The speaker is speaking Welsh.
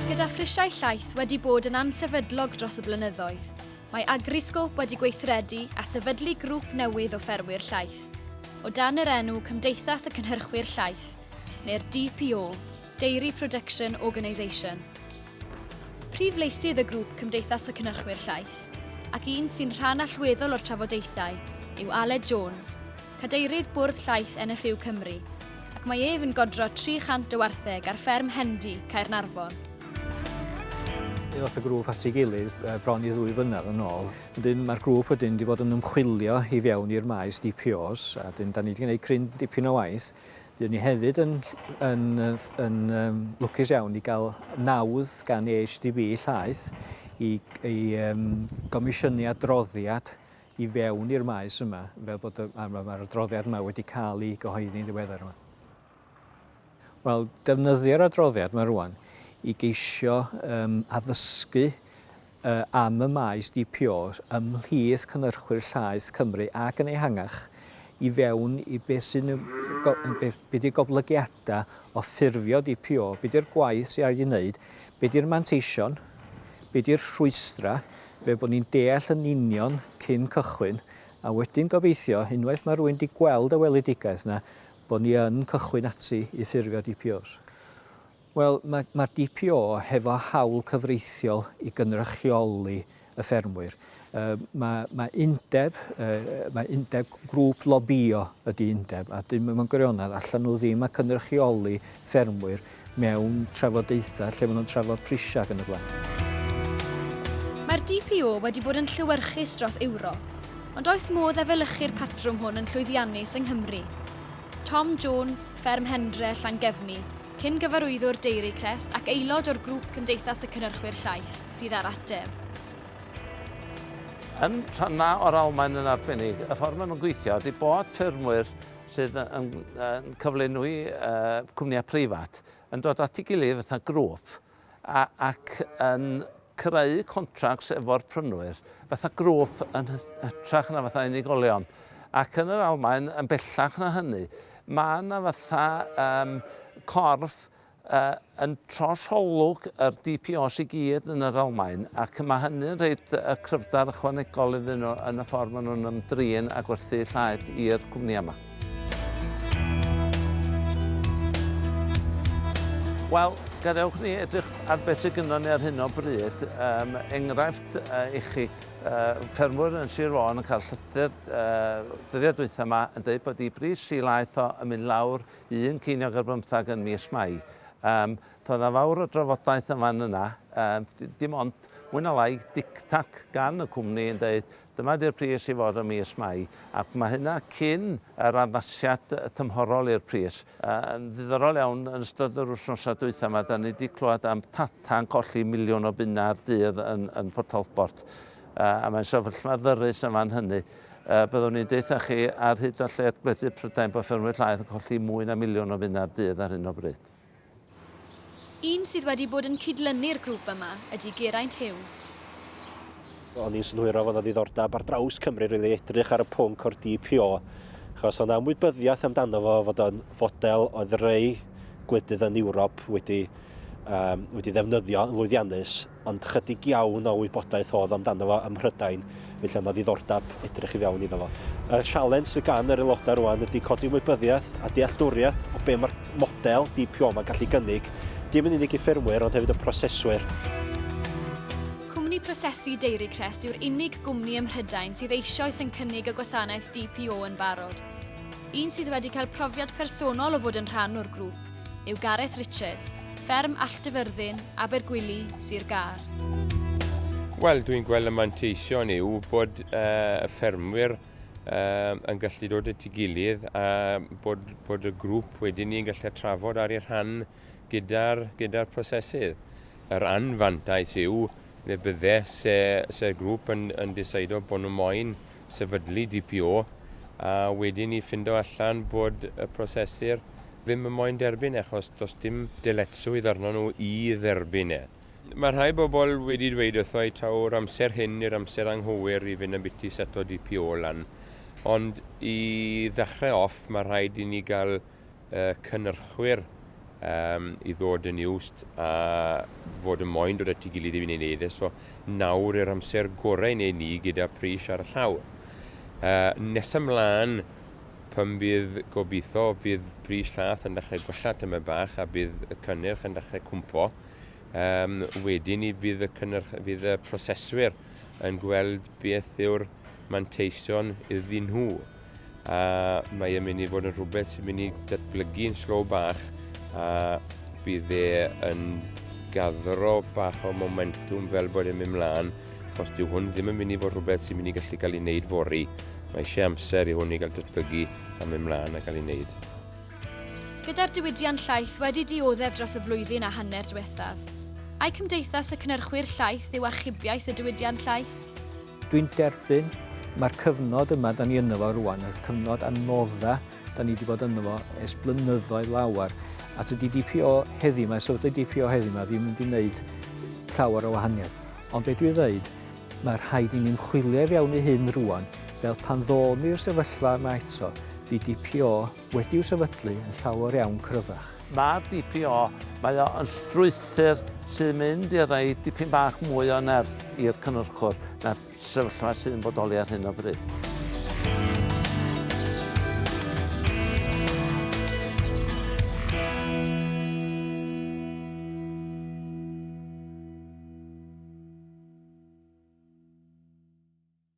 Gyda phrisiau llaeth wedi bod yn ansefydlog dros y blynyddoedd, mae Agriscope wedi gweithredu a sefydlu grŵp newydd o ffermwyr llaeth, o dan yr enw Cymdeithas y Cynhyrchwyr Llaeth, neu'r DPO, Dairy Production Organisation. Prif leisydd y grŵp Cymdeithas y Cynhyrchwyr Llaeth, ac un sy'n rhan allweddol o'r trafodaethau, yw Aled Jones, cadeirydd Bwrdd Llaeth NFU Cymru, ac mae ef yn godro 300 o wartheg ar fferm Hendy, Caernarfon. Ddoth y grŵp at ei gilydd bron i ddwy flynedd yn ôl. Wedyn mae'r grŵp wedyn wedi bod yn ymchwilio i fewn i'r maes DPOs a dyn da ni wedi gwneud cryn dipyn o waith. Dyn ni hefyd yn, yn, yn, yn um, lwcus iawn i gael nawdd gan EHDB llaeth i, i um, gomisiynu adroddiad i fewn i'r maes yma, fel bod y, mae'r ma adroddiad yma wedi cael ei gyhoeddi'n ddiweddar yma. Wel, defnyddio'r adroddiad yma rwan i geisio um, addysgu uh, am y maes DPO ymhlith cynnyrchwyr llaeth Cymru ac yn ehangach i fewn i beth sy'n beth ydi goblygiadau o ffurfio DPO, beth ydi'r gwaith sy'n rhaid i wneud, beth ydi'r manteision, beth ydi'r rhwystrau, fel bod ni'n deall yn union cyn cychwyn, a wedyn gobeithio, unwaith mae rhywun wedi gweld y weledigaeth yna, bod ni yn cychwyn ati i ffurfio DPOs. Wel, mae'r ma DPO hefo hawl cyfreithiol i gynrychioli y ffermwyr. Uh, mae, mae undeb, uh, mae undeb grŵp lobio ydy undeb, a dyn mewn gwirionedd allan nhw ddim a cynrychioli ffermwyr. mewn trafodaethau lle maen nhw'n trafod prisiau ac yn y blaen. Mae'r DPO wedi bod yn llewyrchus dros Ewrop, ond oes modd efelychu'r patrwm hwn yn llwyddiannus yng Nghymru? Tom Jones, Fferm Hendre, Llangefni, cyn-gyfarwyddwr Dairy Crest ac aelod o'r grŵp Cymdeithas y Cynnyrchwyr Llaeth, sydd â'r ateb. Yn rhannau o'r Almaen yn arbennig, y ffordd maen nhw'n gweithio ydy bod ffermwyr sydd yn cyflenwi cwmnïau preifat yn dod at ei gilydd fatha grŵp ac yn creu contracts efo'r prynwyr fatha grŵp yn hytrach na fatha unigolion. Ac yn yr Almaen, yn bellach na hynny, mae yna fatha um, corff A yn trosolwg yr DPOs i gyd yn yr Almaen, ac mae hynny'n rhoid y cryfder ychwanegol iddyn nhw yn y ffordd maen nhw'n ymdrin â gwerthu llaeth i'r cwmnïau yma. Wel, gadewch ni edrych ar beth sydd gynnon ni ar hyn o bryd. Yym, enghraifft yy i chi, yy ffermwyr yn Sir Fôn yn cael llythyr yy dyddiau dwytha 'ma yn deud bod 'u bris si laeth o yn mynd lawr un ceiniog ar bymthag yn mis Mai. Yym, doedd 'na fawr o drafodaeth yn fan yna, yym, d- dim ond mwy na lai dictac gan y cwmni yn deud dyma 'di'r pris i fod ym mis Mai, ac mae hynna cyn yr addasiad tymhorol i'r pris. Yy, yn ddiddorol iawn, yn ystod yr wythnosau dwytha 'ma, 'dan ni 'di clywed am Tata yn colli miliwn o bunnau ar dydd yn yn Port Talbot, yy, a mae'n sefyllfa ddyrus yn fan hynny. A byddwn i'n deutha chi ar hyd a lled gwledydd Prydain bod ffermwyr llaeth yn colli mwy na miliwn o finnau'r dydd ar hyn o bryd. Un sydd wedi bod yn cydlynu'r grŵp yma ydy Geraint Hughes. O'n i'n synhwyro fod 'na ddiddordeb ar draws Cymru rili i edrych ar y pwnc o'r DPO, achos o' 'na ymwybyddiaeth amdano fo fod o'n fodel oedd rei gwledydd yn Ewrop wedi wedi ddefnyddio yn lwyddiannus. ond chydig iawn o wybodaeth oedd amdano fo ym Mhrydain, felly oedd 'na ddiddordeb edrych i fewn iddo fo. Y sialens sy gan yr aelodau rwan ydy codi ymwybyddiaeth a dealltwriaeth o be mae'r model DPO yma'n gallu gynnig, dim yn unig i ffermwyr ond hefyd y proseswyr. Cwmni prosesu Dairy Crest yw'r unig gwmni ym Mhrydain sydd eisioes yn cynnig y gwasanaeth DPO yn barod. Un sydd wedi cael profiad personol o fod yn rhan o'r grŵp. yw Gareth Richards, fferm Alldyfyrddin, Abergwili, Sir Gâr. Wel, dwi'n gweld y manteision yw bod uh, y ffermwyr uh, yn gallu dod at ei gilydd a bod, bod y grŵp wedyn ni'n gallu trafod ar ei rhan gyda'r gyda prosesydd. Yr anfantais yw Neu bydde, se, se'r grŵp yn, yn diseido bod nhw moyn sefydlu DPO, a wedyn i ffindo allan bod y prosesur ddim yn moyn derbyn e, achos does dim dyletswydd arnyn nhw i dderbyn e. Mae rhai bobl wedi dweud wrtho i taw'r amser hyn i'r amser anghywir i fynd ambiti seto DPO lan, ond i ddechrau off mae rhaid i ni gael y cynnyrchwyr um, i ddod yn iwst a fod yn moyn dod at ei gilydd i wneud neiddes. So nawr yr amser gorau i wneud ni gyda pris ar y llawr. Uh, nes ymlaen, pan bydd gobeithio, bydd pris llath yn dechrau gwella tyma bach a bydd y cynnyrch yn dechrau cwmpo. Um, wedyn ni fydd y, cynnyrch, fydd y proseswyr yn gweld beth yw'r manteision iddyn nhw. a mae e'n mynd i fod yn rhywbeth sy'n mynd i datblygu yn slow bach a bydd e yn gadro bach o momentum fel bod e'n mynd mlaen achos dyw hwn ddim yn mynd i fod rhywbeth sy'n mynd i gallu cael ei wneud fori. Mae eisiau amser i hwn i gael datblygu a mynd mlaen a cael ei wneud. Gyda'r diwydiant llaeth wedi dioddef dros y flwyddyn a hanner diwethaf, ai Cymdeithas y Cynnyrchwyr Llaeth yw achubiaeth y diwydiant llaeth? Dwi'n derbyn, mae'r cyfnod yma da ni ynddo fo rwan, y cyfnod anodda da ni wedi bod ynddo fo ers blynyddoedd lawer, a tydi DPO heddi yma, sefydlu DPO heddi yma ddim wedi wneud llawer o wahaniaeth. Ond be dwi'n ddeud, mae rhaid i ni'n chwilio i fewn i hyn rwan, fel pan ddo'n ni'r sefyllfa yma eto, fi DPO wedi'u sefydlu yn llawer iawn cryfach. Mae'r DPO, mae o yn strwythur sy'n mynd i roi dipyn bach mwy o nerth i'r cynhyrchwr na'r sefyllfa sy'n bodoli ar hyn o bryd.